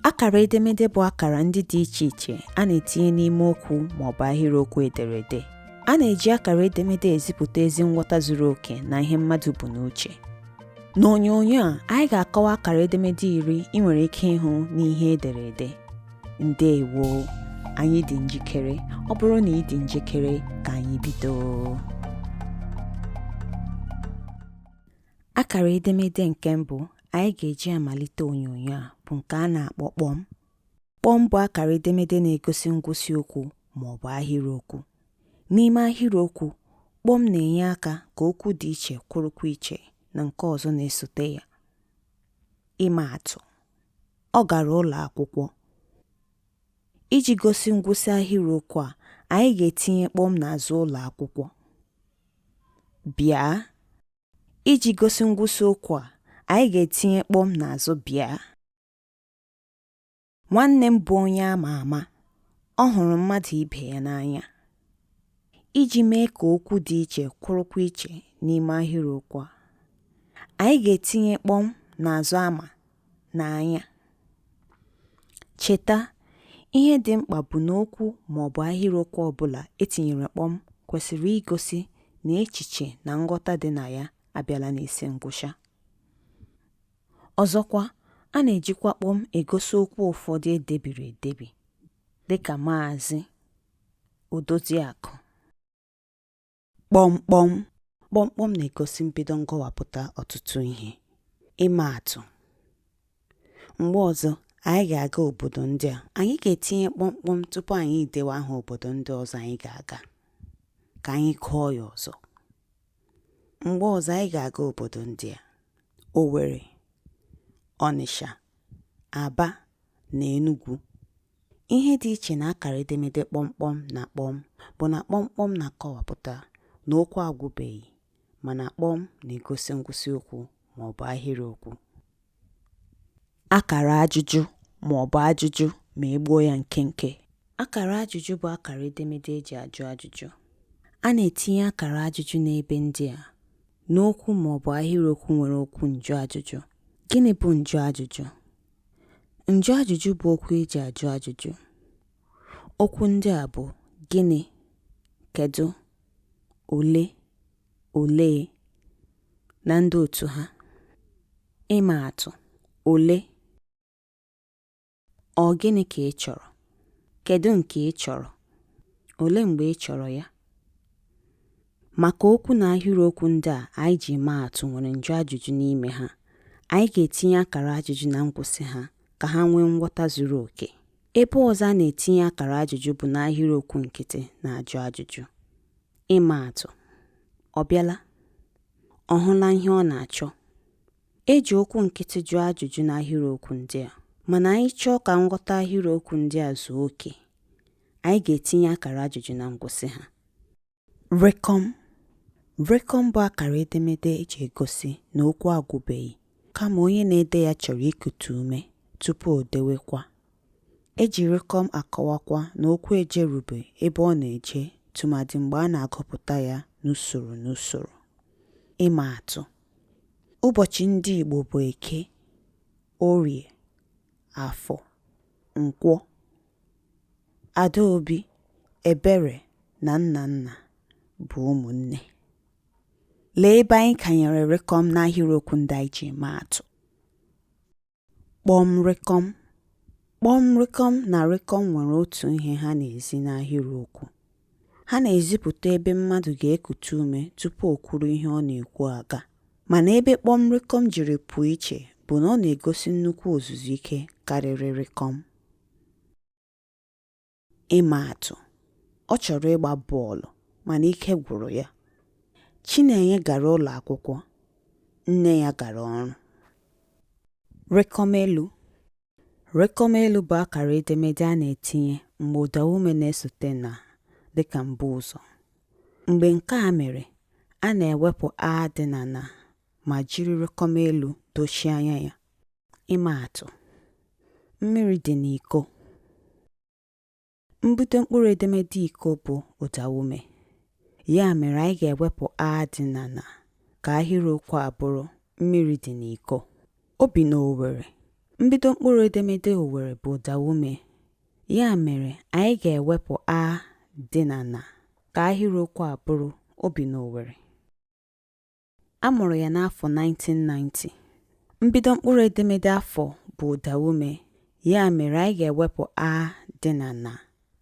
Akara edemede bụ akara ndị dị iche iche a na-etinye n'ime okwu ma ọ bụ ahịrịokwu ederede. A na-eji akara edemede ezipụta ezi nghọta zuru oke na ihe mmadụ bu n'uche. N'onyonyo a, anyị ga-akọwa akara edemede iri ị nwere ike ịhụ n'ihe ederede. Ndewo! Anyị dị njikere. Ọ bụrụ na ị dị njikere, ka anyị bido. Akara edemede nke mbụ anyị ga-eji amalite onyonyo a bụ nke a na-akpọ kpọm. Kpọm bụ akara edemede na-egosi ngwụsị okwu ma ọ bụ ahịrịokwu. N'ime ahịrịokwu, kpọm na-enye aka ka okwu dị iche kwụrụkwa iche na nke ọzọ na-esote ya. Ịma atụ, ọ gara ụlọ akwụkwọ. Iji gosi ngwụsị ahịrịokwu a, anyị ga-etinye kpọm n'azụ ụlọ akwụkwọ. Bịa. Iji gosi ngwụsị okwu a, anyị ga-etinye kpọm n'azụ bịa. Nwanne m bụ onye a ma ama. Ọ hụrụ mmadụ ibe ya n'anya. Iji mee ka okwu dị iche kwụrụkwa iche n'ime ahịrịokwu a, anyị ga-etinye kpọm n'azụ ama n'anya. Cheta, ihe dị mkpa bụ na okwu ma ọ bụ ahịrịokwu ọ bụla e tinyere kpọm kwesịrị igosi na echiche na nghọta dị na ya abịala n'isi ngwụcha. Ọzọkwa, a na-ejikwa kpọm egosi okwu ụfọdụ e debiri edebi, dị ka Maazị, Odoziakụ. Kpọmkpọm kpọmkpọm na-egosi mbido nkọwapụta ọtụtụ ihe. Ịma atụ, mgbe ọzọ anyị ga-aga obodo ndị a, anyị ga-etinye kpọmkpọm tupu anyị idewe aha obodo ndị ọzọ anyị ga-aga ka anyị kọọ ya ọzọ. Mgbe ọzọ anyị ga-aga obodo ndị a, Owerri, Ọnịsha, Aba na Enugwu Ihe dị iche na akara edemede kpọmkpọm na kpọm bụ na kpọmkpọm na-akọwapụta na okwu agwụbeghị mana kpọm na-egosi ngwụsị okwu ma ọ bụ ahịrịokwu. Akara ajụjụ ma ọ bụ ajụjụ ma e gbuo ya nkenke. Akara ajụjụ bụ akara edemede e ji ajụ ajụjụ. A na-etinye akara ajụjụ n'ebe ndị a, n'okwu ma ọ bụ ahịrịokwu nwere okwu njụajụjụ. Gịnị bụ njụajụjụ? Njụajụjụ bụ okwu e ji ajụ ajụjụ. Okwu ndị a bụ gịnị, kedụ, ole, olee na ndị otu ha. Ịma atụ, ole, ọ gịnị ka ị chọrọ? Kedụ nke ị chọrọ? Olee mgbe ị chọrọ ya? Maka okwu na ahịrịokwu ndị a anyị ji maa atụ nwere njụajụjụ n'ime ha, anyị ga-etinye akara ajụjụ na ngwụsị ha ka ha nwee nghọta zuru oke. Ebe ọzọ a na-etinye akara ajụjụ bụ n'ahịrịokwu nkịtị na-ajụ ajụjụ. Ịma atụ, Ọ bịala? Ọ hụla ihe ọ na-achọ? E ji okwu nkịtị jụọ ajụjụ n'ahịrịokwu ndị a. Mana anyị chọọ ka nghọta ahịrịokwu ndị a zuo oke, anyị ga-etinye akara ajụjụ na ngwụsị ha. Rịkọm Rịkọm bụ akara edemede eji egosi na okwu agwụbeghị kama onye na-ede ya chọrọ ikutu ume tupu o dewekwa. E ji rịkọm akọwakwa na okwu ejerube ebe ọ na-eje tụmadị mgbe a na-agụpụta ya n'usoro n'usoro. Ịma atụ, Ụbọchị ndị Igbo bụ Eke, Orie, Afọ, Nkwọ. Adaobi, Ebere na Nnanna bụ ụmụnne. Lee ebe anyị kanyere rịkọm n'ahịrịokwu ndị anyị ji maa atụ. Kpọm rịkọm. Kpọm rịkọm na rịkọm nwere otu ihe ha na-ezi n'ahịrịokwu. Ha na-ezipụta ebe mmadụ ga-ekutu ume tupu o kwuru ihe ọ na-ekwu aga. Mana ebe kpọm rịkọm jiri pụọ iche bụ na ọ na-egosi nnukwu ozuzu ike karịrị rịkọm. Ịma atụ, ọ chọrọ ịgba bọọlụ mana ike gwụrụ ya. Chinenye gara ụlọ akwụkwọ, nne ya gara ọrụ. Rịkọm elu, Rịkọmelu bụ akara edemede a na-etinye mgbe ụdaume na-esote na dịka mbuụzọ. Mgbe nke a mere, a na-ewepụ 'a' dị na 'na' ma jiri rịkọmelu dochie anya ya. Ịmaatụ, Mmiri dị n'iko. Mbido mkpụrụ edemede iko bụ ụdaume. Ya mere anyị ga-ewepụ a dị na na ka ahịrịokwu a bụrụ mmiri dị n'iko. O bi n'Owere. Mbido mkpụrụ edemede Owere bụ ụdaume. Ya mere anyị ga-ewepụ a dị na na ka ahịrịokwu a bụrụ o bi n'Owere. A mụrụ ya n'afọ 1990. Mbido mkpụrụ edemede afọ bụ ụdaume, ya mere anyị ga-ewepụ a dị na na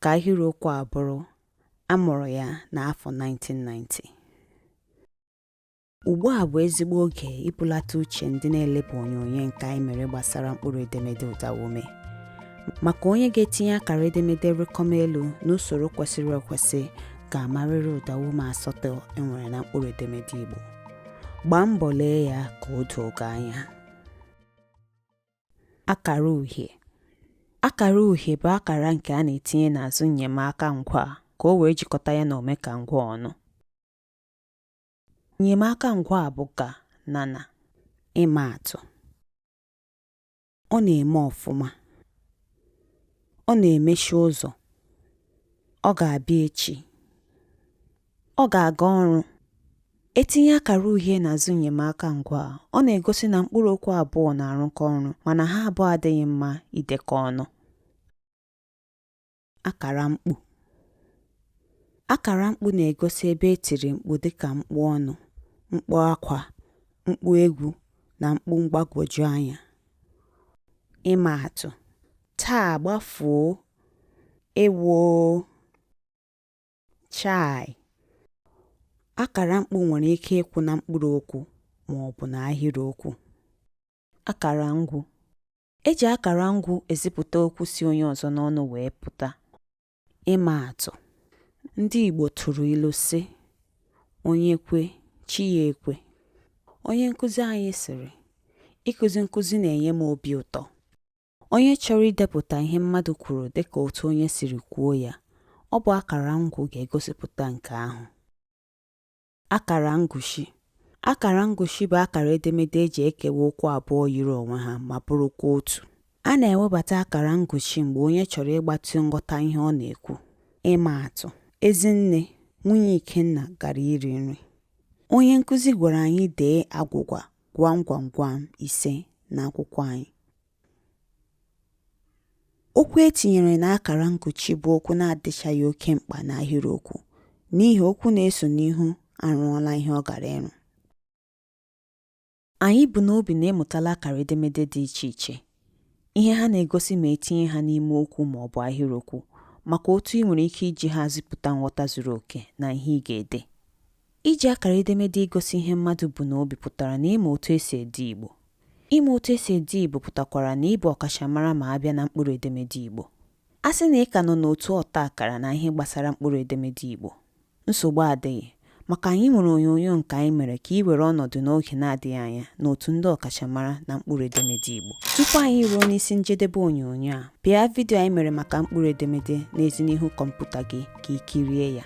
ka ahịrịokwu a bụrụ A mụrụ ya n'afọ 1990. Ugbu a bụ ezigbo oge ibulata uche ndị na-elebe onyonyo nke anyị mere gbasara mkpụrụ edemede ụdaume. Maka onye ga-etinye akara edemede rịkọm elu n'usoro kwesịrị ekwesị ga-amarịrị ụdaume asatọ e nwere na mkpụrụ edemede Igbo. Gbaa mbọ lee ya ka o doo gị anya. Akara uhie Akara uhie bụ akara nke a na-etinye n'azụ nnyemaka ngwaa ka o wee jikọta ya na omekangwaa ọnụ. Nnyemaka ngwaa bụ ga na na. Ịma atụ. Ọ na-eme ọfụma. Ọ na-emechi ụzọ. Ọ ga-abịa echi. Ọ ga-aga ọrụ. E tinye akara uhie n'azụ nnyemaka ngwaa, ọ na-egosi na mkpụrụ okwu abụọ na-arụkọ ọrụ mana ha abụọ adịghị mma idekọ ọnụ. akara mkpu. Akara mkpu na-egosi ebe e tiri mkpu dịka mkpu ọṅụ, mkpu akwa, mkpu egwu na mkpu mgbagwoju anya. Ịma atụ, taa gbafuo, ewoo, chai. Akara mkpu nwere ike ịkwụ na mkpụrụ okwu ma ọ bụ na ahịrịokwu. Akara ngwu, E ji akara ngwu ezipụta okwu si onye ọzọ n'ọnụ wee pụta. Ịma atụ, ndị Igbo tụrụ ilu sị, Onye kwe, chi ya ekwe. Onye nkụzi anyị sịrị, Ịkụzi nkụzi na-enye m obi ụtọ. Onye chọrọ idepụta ihe mmadụ kwuru dịka otu onye siri kwuo ya, ọ bụ akara ngwu ga-egosipụta nke ahụ. Akara nkuchi Akara nkuchi bụ akara edemede e ji ekewa okwu abụọ yiri onwe ha ma bụrụkwa otu. A na-ewebata akara nkuchi mgbe onye chọrọ ịgbatị nghọta ihe ọ na-ekwu. Ịmaatụ, Ezinne, nwunye Ikenna, gara iri nri. Onye nkụzi gwara anyị dee agwụgwa gwam gwam gwam ise n'akwụkwọ anyị. Okwu e tinyere n'akara nkuchi bụ okwu na-adịchaghị oke mkpa n'ahịrịokwu n'ihi okwu na-eso n'ihu arụọla ihe ọ gara ịrụ. Anyị bu n'obi na ị mụtala akara edemede dị iche iche, ihe ha na-egosi ma e tinye ha n'ime okwu ma ọ bụ ahịrịokwu, makwa otu i nwere ike iji ha zipụta nghọta zuru oke na ihe ị ga-ede. Iji akara edemede igosi ihe mmadụ bu n'obi pụtara na ị ma otu e si ede Igbo. Ịma otu e si ede Igbo pụtakwara na ị bụ ọkachamara ma a bịa na mkpụrụ edemede Igbo. A sị na ị ka nọ n'otu ọta akara na ihe gbasara mkpụrụ edemede Igbo, nsogbu adịghị, maka anyị nwere onyonyo nke anyị mere ka i were ọnọdụ n'oge na-adịghị anya n'otu ndị ọkachamara na mkpụrụ edemede Igbo. Tupu anyị ruo n'isi njedebe onyonyo a, pịa vidio anyị mere maka mkpụrụ edemede na-ezi n'ihu kọmputa gị ka i kirie ya.